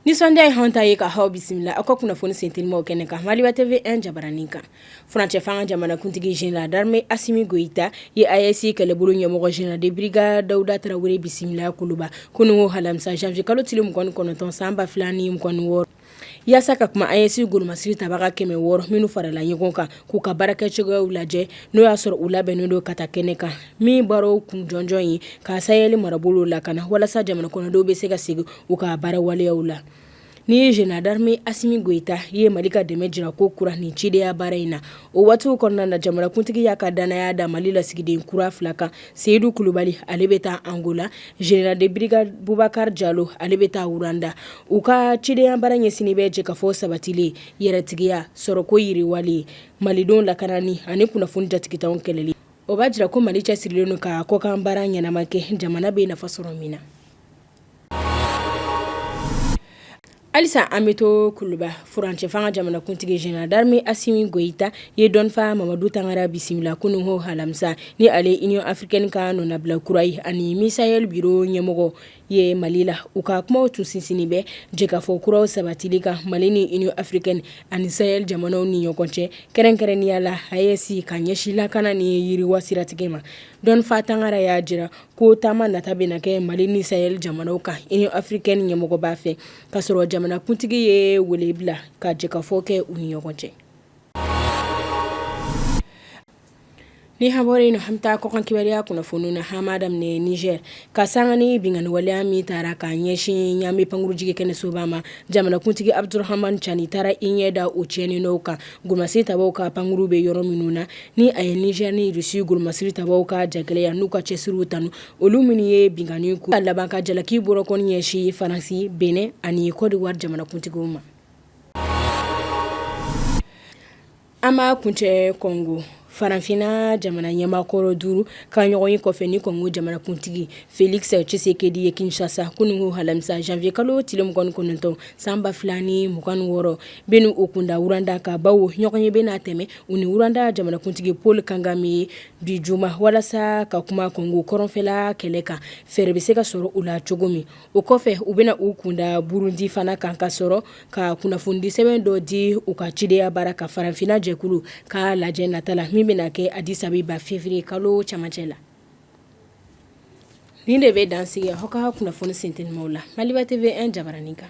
Nisɔndiya ye an ta ye ka aw bisimila aw ka kunnafoni senteliman kɛnɛ kan Maliba TV 1 jabaranin kan furancɛ fanga jamanakuntigi général d'armée Assimi Goïta ye AES kɛlɛbolo ɲɛmɔgɔ général de brigade Daouda Traoré bisimila kuluba kununwo alamisa janvier kalo tile 29 san 2026 yaasa ka kuma AES golomasiri tabaga kɛmɛ wɔɔrɔ minnu farala ɲɔgɔn kan k'u ka baarakɛcogoyaw lajɛ n'o y'a sɔrɔ u labɛnnen don ka taa kɛnɛ kan min baara kun jɔnjɔn ye ka sayɛli marabolo lakana walasa jamana kɔnɔdenw bɛ se ka segin u ka baara waleyaw la ni général d'armée Assimi Goïta ye mali ka dɛmɛ jira kokura nin cidenya baara in na o waati kɔnɔna na jamanakuntigi y'a ka dannaya da mali lasigiden kura fila kan Seyidu kulubali ale bɛ taa Angola général de brigade Boubacar jalo ale bɛ taa Rwanda u ka cidenya baara ɲɛsinnen bɛ jɛkafɔ sabatili yɛrɛtigiya sɔrɔko yiriwali malidenw lakanani ani kunnafoni jatigintanw kɛlɛli o b'a jira ko mali cɛsirilen don ka kɔkan baara ɲɛnama kɛ jamana bɛ nafa sɔrɔ min na Halisa an bɛ to kuluba furancɛ fanga jamanakuntigi général d'armée Assimi Goïta ye dɔnfa mamadu tangara bisimila kununwo alamisa ni ale Union africaine ka nɔnabila kura ye ani MISAHEL biro ɲɛmɔgɔ ye mali la u ka kuma tun sinsinnen bɛ jɛkafɔ kuraw sabatili kan mali ni Union africaine ani sayɛli jamanaw ni ɲɔgɔn cɛ kɛrɛnkɛrɛnnenya la AES ka ɲɛsin lakana ni yiriwa siratigɛ ma dɔnfa tangara y'a jira ko taama nata bɛna kɛ mali ni sayɛli jamanaw kan Union africaine ɲɛmɔgɔba fɛ ka sɔrɔ jamanakuntigi ye wele bila ka jɛkafɔ kɛ u ni ɲɔgɔn cɛ ni an bɔra yen an bɛ taa kɔkan kibaruya kunnafoni na an b'a daminɛ niger ka sanga ni binkanni waleya min taara ka ɲɛsin Niamey pankurunjigi kɛnɛ soba ma jamanakuntigi Abdourahamane Tiani taara i ɲɛ da o tiɲɛni nɔ kan golomasiri tabaaw ka pankurun bɛ yɔrɔ minnu na ni a ye Niger ni Russie golomasiri tabaaw ka jagɛlɛya n'u ka cɛsiriw tanu olu minnu ye binkanni ka laban ka jalaki bolokɔni ɲɛsin Faransi Bénin ani Côte d'Ivoire jamanakuntigiw ma an b'a kuncɛ kɔngo Farafinna jamana ɲɛmaakɔrɔ duuru ka ɲɔgɔnye kɔfɛ ni kɔngo jamanakuntigi Félix Tshisekedi ye kinshasa kununwo alamisa janvier kalo tile mugan kɔnɔntɔn san ba fila ni mugan wɔɔrɔ bɛna u kun da Rwanda ka bawo ɲɔgɔnye bɛna tɛmɛ u ni Rwanda jamanakuntigi Paul Kagame ye bi juma walasa ka kuma kɔngo kɔrɔnfɛla kɛlɛ kan fɛɛrɛ bɛ se ka sɔrɔ u la cogo min o kɔfɛ u bɛna u kunda burundi fana kan ka sɔrɔ ka kunnafonidi sɛbɛn dɔ di u ka cideya baara kan farafinna jɛkulu ka lajɛ nata la min bɛna kɛ addis abeba feviriye kalo camancɛ la nin de bɛ dan sigi aw ka kunnafoni sint la maliba tv un jabaranin kan